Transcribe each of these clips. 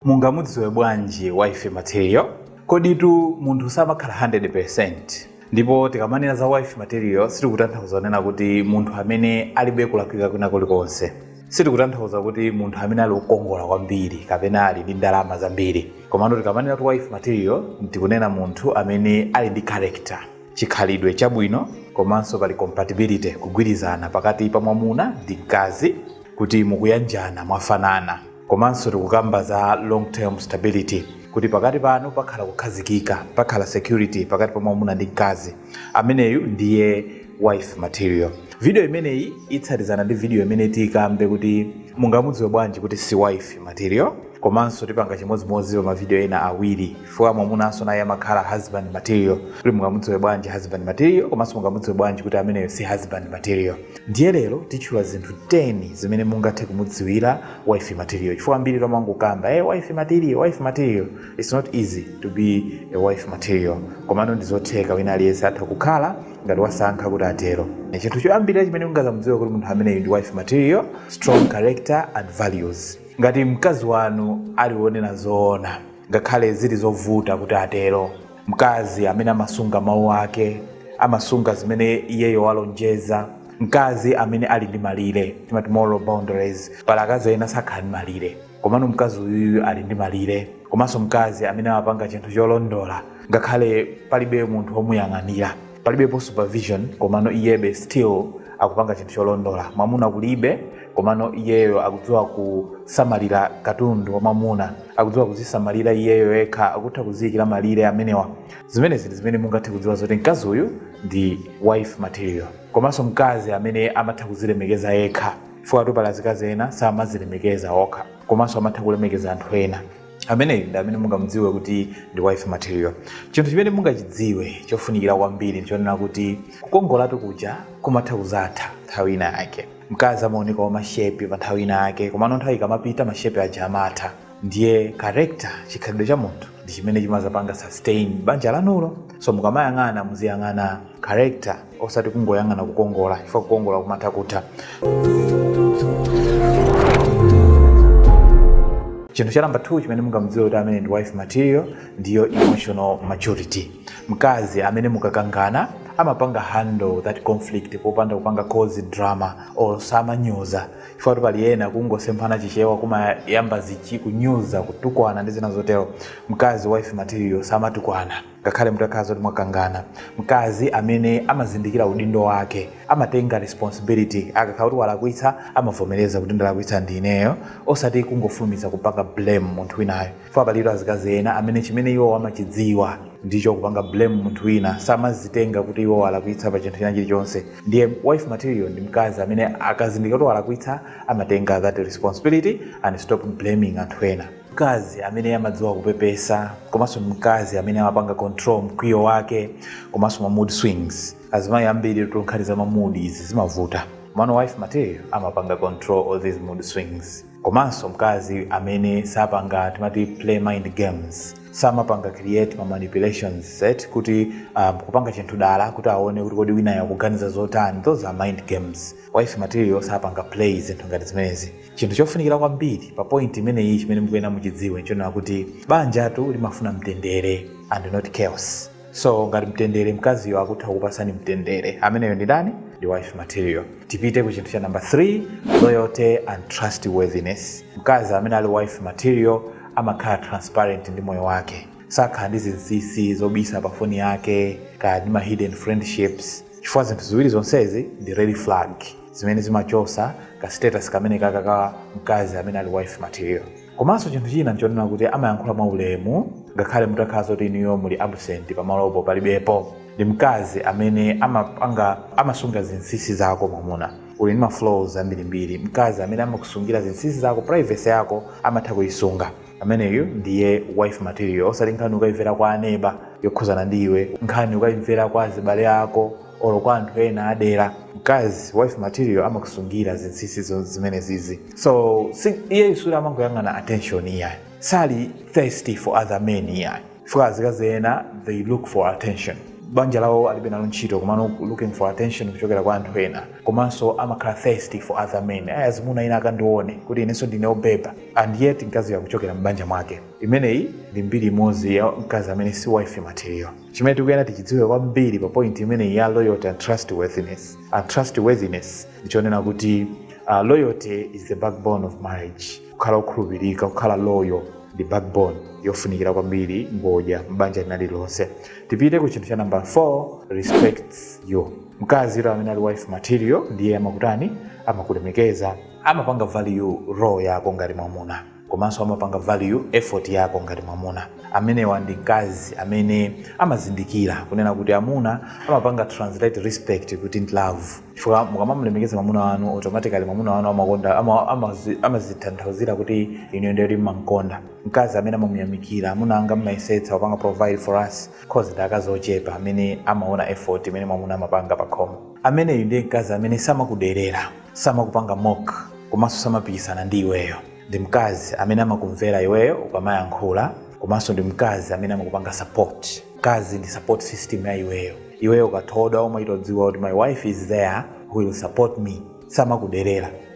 Mungamudziwe bwanji wife material? Koditu munthu samakhala 100% ndipo tikamanena za wife material sitikutanthauza kunena kuti munthu amene alibe kulakwika kwina kulikonse. Sitikutanthauza kuti munthu amene ali wokongola kwambiri kapena ali ndi ndalama zambiri. Komano tikamanena kuti wife material tikunena munthu amene ali ndi character, chikhalidwe chabwino komanso pali compatibility, kugwirizana pakati pa mwamuna ndi mkazi kuti mukuyanjana mwafanana. komanso tikukamba za long term stability kuti pakati panu pakhala kukhazikika pakhala security pakati pa mwamuna ndi mkazi ameneyu ndiye wife material video imeneyi itsatizana ndi video imene tikambe kuti mungamudziwe bwanji kuti si wife material komanso tipanga chimodzimodzi pa mavidiyo ena awiri chifukwa mwamunanso naye amakhala husband material kuti mungamudziwe bwanji husband material komanso mungamudziwe bwanji kuti ameneyo si husband material ndiye lero titchula zinthu 10 zimene mungathe kumudziwira wife material chifukwa ambiri tomangokamba hey, wife material wife material it's not easy to be a wife material komano ndizotheka wina aliyense atha kukhala ngati wasankha kuti atero chinthu choyambirira chimene mungamudziwe kuti munthu ameneyu ndi wife material strong character and values ngati mkazi wanu ali wonena zoona ngakhale zili zovuta kuti atero. Mkazi amene amasunga mawu ake amasunga zimene iyeyo walonjeza. Mkazi amene ali ndi malire timati moral boundaries, pali akazi ena sakhala ndi malire, komano mkazi uyuyu ali ndi malire. Komanso mkazi amene amapanga chinthu cholondola ngakhale palibe munthu womuyang'anira. palibepo supervision komano iyebe still akupanga chinthu cholondola mwamuna kulibe komano iyeyo akudziwa kusamalira katundu wa mwamuna akudziwa kuzisamalira iyeyo yekha akutha kuziyikira malire amenewa zimenezi zimene mungathe kudziwa zoti mkazi uyu ndi wife material komanso mkazi amene amatha kuzilemekeza yekha chifukwatu pali azikazi ena samazilemekeza okha komanso amatha kulemekeza anthu ena ameneyu ndi amene mungamudziwe kuti ndi wife material chinthu chimene mungachidziwe chofunikira kwambiri ndichonena kuti kukongolatu kuja kumatha kuzatha nthawi ina yake mkazi amaoneka wa mashepi pa nthawi ina yake komano nthawi ikamapita mashepi aja amatha ndiye character chikhalidwe cha munthu ndi chimene chimazapanga sustain banja lanulo so mukamayang'ana muziyang'ana character osati kungoyang'ana kukongola chifukwa kukongola kumatha kutha chinthu cha namba 2 chimene mungamudziwe kuti amene ndi wife material ndiyo emotional maturity mkazi amene mukakangana amapanga handle that conflict popanda kupanga cause drama or samanyoza chifukwa pali ena kungosemphana chichewa kumayamba zichi kunyoza kutukwana ndi zina zotero mkazi wife material samatukwana ngakhale mutakhala kuti mwakangana mkazi amene amazindikira udindo wake amatenga responsibility akakhala kuti walakwitsa amavomereza kuti ndalakwitsa ndi ineyo osati kungofulumiza kupanga blame munthu winayo chifukwa palitu azikazi ena amene chimene iwo amachidziwa ndicho kupanga blame munthu wina samazitenga kuti iwo alakwitsa pa chinthu china chilichonse ndiye wife material ndi mkazi amene akazindikira kuti walakwitsa amatenga that responsibility and stop blaming anthu ena mkazi amene amadziwa kupepesa komanso mkazi amene amapanga control mkwiyo wake komanso ma mood swings azimayi ambiri tu nkhani za ma mood izi zimavuta mano wife material amapanga control all these mood swings komanso mkazi amene sapanga timati play mind games samapanga create ma manipulations set kuti um, kupanga chinthu dala kuti aone kuti kodi winayo akuganiza zotani those are mind games wife material sapanga play zinthu ngati zimenezi Chinthu chofunikira kwambiri pa point imeneyi chimene mukuyenera muchidziwe nchonena kuti banjatu limafuna mtendere and not chaos. So ngati mtendere mkaziyo akutha kukupasani mtendere, ameneyo ndi ndani? Ndi wife material. Tipite ku chinthu cha number 3, loyalty and trustworthiness. Mkazi amene ali wife material amakhala transparent ndi moyo wake, sakhala ndi zinsinsi zobisa pa foni yake kaya ndi ma hidden friendships, chifukwa zinthu ziwiri zonsezi ndi red flag. zimene zimachosa ka status kamene kaka ka mkazi amene ali wife material komanso chinthu china nchonena kuti amayankhula mwa ulemu ngakhale mutakhala zoti inuyo muli absent pamalopo palibepo ndi mkazi amene amasunga zinsinsi zako mwamuna uli ndi ma flaws ambirimbiri mkazi amene amakusungira zinsinsi zako privacy yako amatha kuyisunga ameneyo ndiye wife material osati nkhani ukayimvera kwa aneba yokhuzana ndi iwe nkhani ukayimvera kwa azibale ako olo kwa anthu ena adera mkazi wife material amakusungira zinsinsi zo- zimenezizi so si, iyeyu suli amangoyang'ana attention iyayi sali thirsty for other men iyayi chifukwa azikazi ena they look for attention banja lawo alibe nalo ntchito komano looking for attention kuchokera kwa anthu ena komanso amakhala thirsty for other men azimuna ena akandione kuti inenso ndine obeba and yet mkazi akuchokera m'banja mwake imeneyi ndi mbiri imodzi ya mkazi amene si wife material chimene tikuyenera tichidziwe kwambiri pa point imeneyi ya loyalty and trustworthiness and trustworthiness ndichonena kuti uh, loyalty is the backbone of marriage kukhala okhulupirika kukhala loyal ndi backbone yofunikira kwambiri ngodya m'banja lina lililonse tipite ku chinthu cha number 4 respects you mkazitu amene ali wife material ndiye amakutani amakulemekeza amapanga value role yako ngati mwamuna komanso amapanga value effort yako ngati mwamuna amenewa ndi mkazi amene amazindikira kunena kuti amuna amapanga translate respect kuti ndi love chifukwa mukamamlemekeza mwamuna wanu automatically mwamuna wanu ama- amazi- amazitanthauzira kuti inu ndiye kuti mmamkonda mkazi amene amamuyamikira amuna anga mmayesetsa kupanga provide for us cause ndi akazi ochepa amene amaona effort imene mwamuna amapanga pa khomo ameneyu ndiye mkazi amene samakuderera samakupanga mock komanso samapikisana ndi iweyo ndi mkazi amene amakumvera iweyo ukamayankhula komanso ndi mkazi amene amakupanga support mkazi ndi support system ya iweyo iweyo ukathodwa umaitodziwa kuti my wife is there who will support me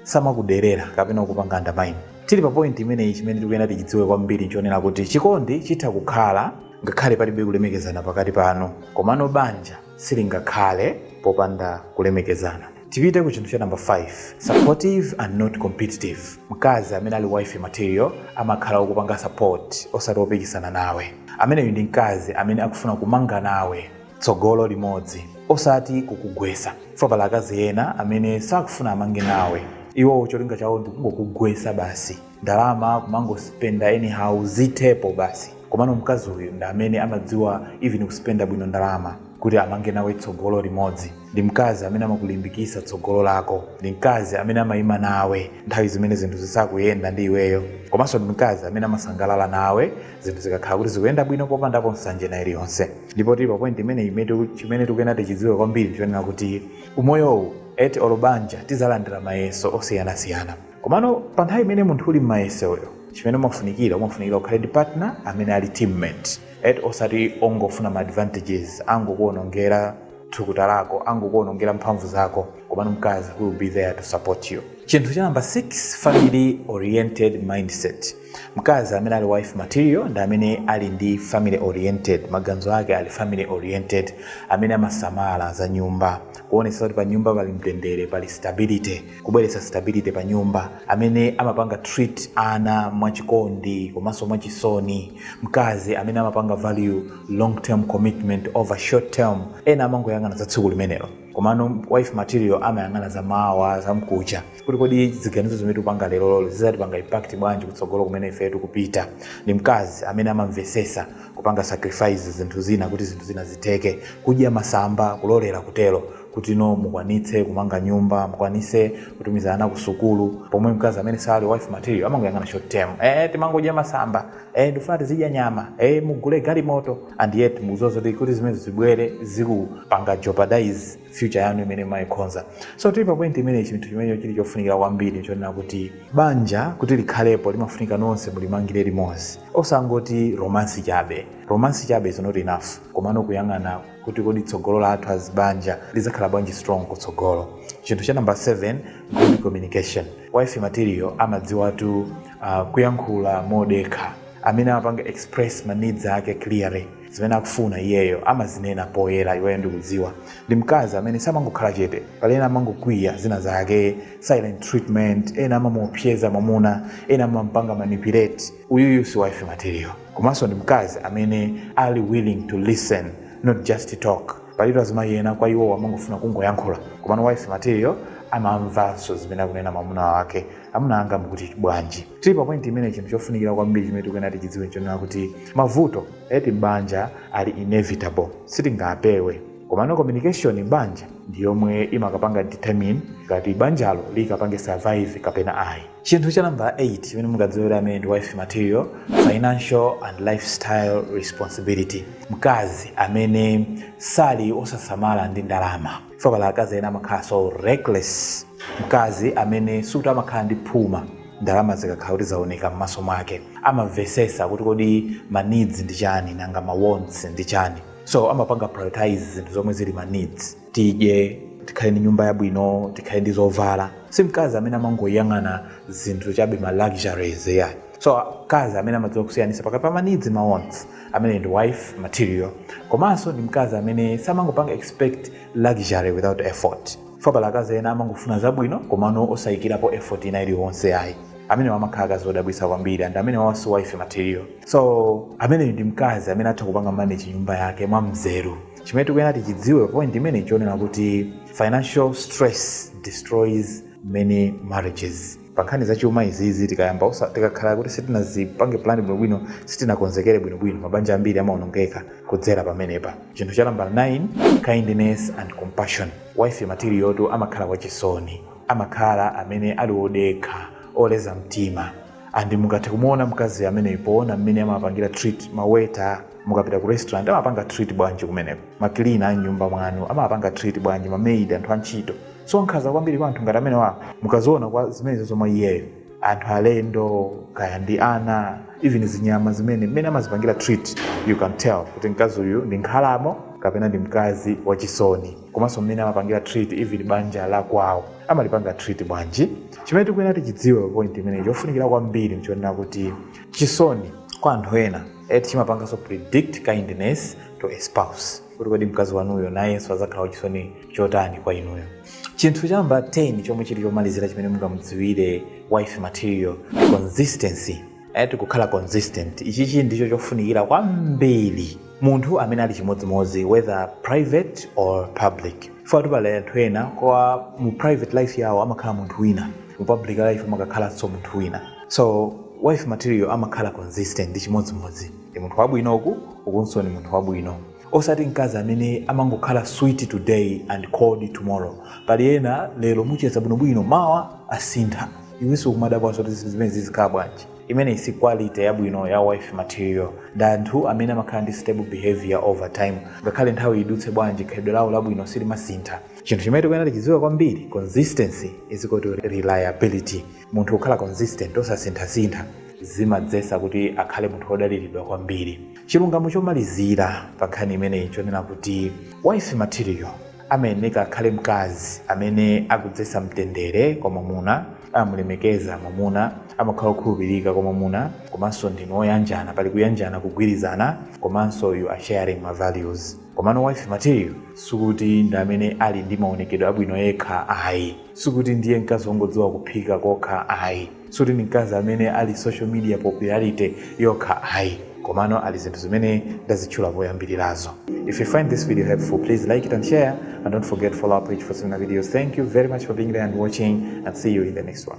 samakuderera kapena kupanga undermine tili pa point imeneyi chimene tikuyenda tichidziwe kwambiri nchonena kuti chikondi chitha kukhala ngakhale palibe kulemekezana pakati panu komano banja silingakhale popanda kulemekezana tipite ku chinthu cha number 5 supportive and not competitive mkazi amene ali wife material amakhala okupanga support osati opikisana nawe ameneyu ndi mkazi amene akufuna kumanga nawe tsogolo limodzi osati kukugwesa pali akazi ena amene sakufuna amange nawe iwo cholinga chawo ndikungokugwesa basi ndalama kumangospenda anyhow zithepo basi komano mkazi uyu ndi amene amadziwa even kuspenda bwino ndalama kuti amange nawe tsogolo limodzi ndi mkazi amene amakulimbikitsa tsogolo lako ndi mkazi amene amayima nawe nthawi zimene zinthu zisakuyenda ndi iweyo komanso ndi mkazi amene amasangalala nawe zinthu zikakhala kuti zikuyenda bwino popandapo nsanje ina iliyonse ndipo tili pa point imeneyi eti chimene tikuyena tichidziwe kwambiri nchonena kuti umoyowu eti olubanja tizalandira mayeso osiyanasiyana komano pa nthawi imene munthu uli mmayesoyo chimene umafunikira umafunikira ukhale ndi partner amene ali teammate eti osati ongofuna ma advantages angokuonongera thukuta lako angokuonongera mphamvu zako komano mkazi who will be there to support you chinthu cha number 6 family oriented mindset mkazi amene ali wife material ndi amene ali ndi family oriented maganizo ake ali family oriented amene amasamala za nyumba kuonetsa kuti pa nyumba pali mtendere pali stability kubweretsa stability pa nyumba amene amapanga treat ana mwachikondi komanso mwachisoni mkazi amene amapanga value long term commitment over short term ena amangoyang'ana za tsiku limenelo komano wife material amayang'ana za mawa za mkucha kuti kodi ziganizo zimene tikupanga leroli zizatipanga impact bwanji kutsogolo kumene ife tikupita ndi mkazi amene amamvesesa kupanga sacrifice zinthu zina kuti zinthu zina zitheke kudya masamba kulolera kutero kuti no mukwanitse kumanga nyumba mukwanise kutumiza ana ku sukulu pomwe mkazi amene sali wife material amangoyang'ana short term eh timangodya masamba eh, ndikufuna tizidya nyama eh, mugule galimoto and yet mukuziwa zoti zimene zibwere zikupanga jeopardize future yanu imene mwayikonza so tili pa point imene chinthu chimene chili chofunikira kwambiri chonena kuti banja kuti likhalepo limafunika nonse mulimangire limodzi osangoti romance chabe romance chabe is not enough komano kuyang'ana kuti kodi tsogolo lathu as banja lizakhala bwanji strong kutsogolo chinthu cha number 7 good communication wife material amadziwatu uh, kuyankhula modekha amene amapanga express ma needs ake clearly zimene akufuna iyeyo amazinena poyera iweyo ndikudziwa ndi mkazi amene samangokhala chete pali ena amangokwiya zina zake silent treatment ena amamuopyeza mwamuna ena amampanga manipulate uyuyu si wife material komanso ndi mkazi amene ali willing to listen not just to talk palitu azimayi ena kwa iwowo amangofuna kungoyankhula komano wife material amamvanso zimene akunena mwamuna wake Amuna anga mukuti bwanji? Tili pa point imene chinthu chofunikira kwambiri chimene tikuyenera tichidziwe nchonena kuti mavuto a m'banja ali inevitable, sitingapewe. Komano communication m'banja ndi yomwe imakapanga determine ngati banjalo likapange survive kapena ayi. Chinthu cha nambala 8 chimene mungadziwire amene ndi wife material, financial and lifestyle responsibility, mkazi amene sali wosasamala ndi ndalama. for pali akazi ena amakhala so reckless mkazi amene sikuti amakhala ndi phuma ndalama zikakhala kuti zaoneka m'maso mwake amamvesesa kuti kodi ma needs ndi chani nanga ma wants ndi chani so amapanga prioritize zinthu zomwe zili ma needs tidye tikhale ndi nyumba yabwino tikhale ndi zovala si mkazi amene amangoyang'ana zinthu chabe ma luxuries yayi so mkazi amene amadziwa kusiyanisa pakati pa ma needs ndi ma wants amene ndi wife material komanso ndi mkazi amene samangopanga expect luxury without effort for pali akazi ena amangofuna zabwino komano osayikirapo effort ina iliyonse ayi amenewa amakhala akazi odabwisa kwambiri and amenewa si wife material so ameneyu ndi mkazi amene atha kupanga manage nyumba yake mwa mzeru chimene tikuyenera tichidziwe point imene nchonena kuti financial stress destroys many marriages pankhani za chuma izizi tikayamba tikakhala kuti sitinazipange plan bwinobwino sitinakonzekere bwinobwino mabanja ambiri amaonongeka kudzera pamenepa chinthu cha nambala 9 kindness and compassion wife material tu amakhala wachisoni amakhala amene ali wodekha oleza mtima and mungathe kumuona mkazi ameneyu poona mmene amapangira treat ma waiter mukapita ku restaurant amawapanga treat bwanji kumeneko makilina a nyumba mwanu amawapanga treat bwanji mamaid anthu antchito so nkhaza kwambiri kwa anthu ngati amenewa mukaziona kwa zimenezo iyeyo anthu alendo kaya ndi ana even zinyama zimene mmene amazipangira treat you can tell kuti mkazi uyu ndi nkhalamo kapena ndi mkazi wachisoni komanso mmene amapangira treat even banja la kwawo amalipanga treat bwanji chimene tikuyenera tichidziwe pa point imeneyi chofunikira kwambiri nchonena kuti chisoni kwa anthu ena chimapanganso predict kindness to a spouse kuti kodi mkazi wanuyo nayenso adzakhala wachisoni chotani kwa inuyo chinthu cha namba 10 chomwe chili chomalizira chimene mungamudziwire wife material consistency ati kukhala consistent ichichi ndicho chofunikira kwambiri munthu amene ali chimodzimodzi whether private or public ifetu pali anthu ena kwa mu private life yawo amakhala munthu wina mu public life amakakhalanso munthu wina So wife material amakhala consistent ndi chimodzimodzi ndi munthu wabwino uku ukunso ndi munthu wabwino osati mkazi amene amangokhala sweet today and cold tomorrow pali ena lero mucheza bwinobwino mawa asintha iwenso kumadabwanso kuti zimenezi zikukhala bwanji imeneyi si quality yabwino ya wife material ndi anthu amene amakhala ndi stable behavior over time ngakhale nthawi idutse bwanji khalidwe lawo labwino silimasintha chinthu chimene tikuyenera tichidziwe kwambiri consistency is equal to reliability munthu kukhala consistent osasinthasintha zimadzesa kuti akhale munthu wodaliridwa kwambiri chilungamo chomalizira pa nkhani imeneyi nchonena kuti wife material amayeneka akhale mkazi amene akudzesa mtendere kwa mwamuna amamulemekeza mwamuna amakhala okhulupirika kwa mwamuna komanso ndinu oyanjana pali kuyanjana kugwirizana komanso you are sharing ma values komano wife material sikuti ndi amene ali ndi maonekedwe abwino yekha ayi sikuti ndiye mkazi wongodziwa kuphika kokha ayi sikuti ndi mkazi amene ali social media popularity yokha ayi komano ali zinthu zimene ndazitchula poyambirirazo if you find this video helpful please like it and share and don't forget to follow our page for similar videos thank you very much for being there and watching and see you in the next one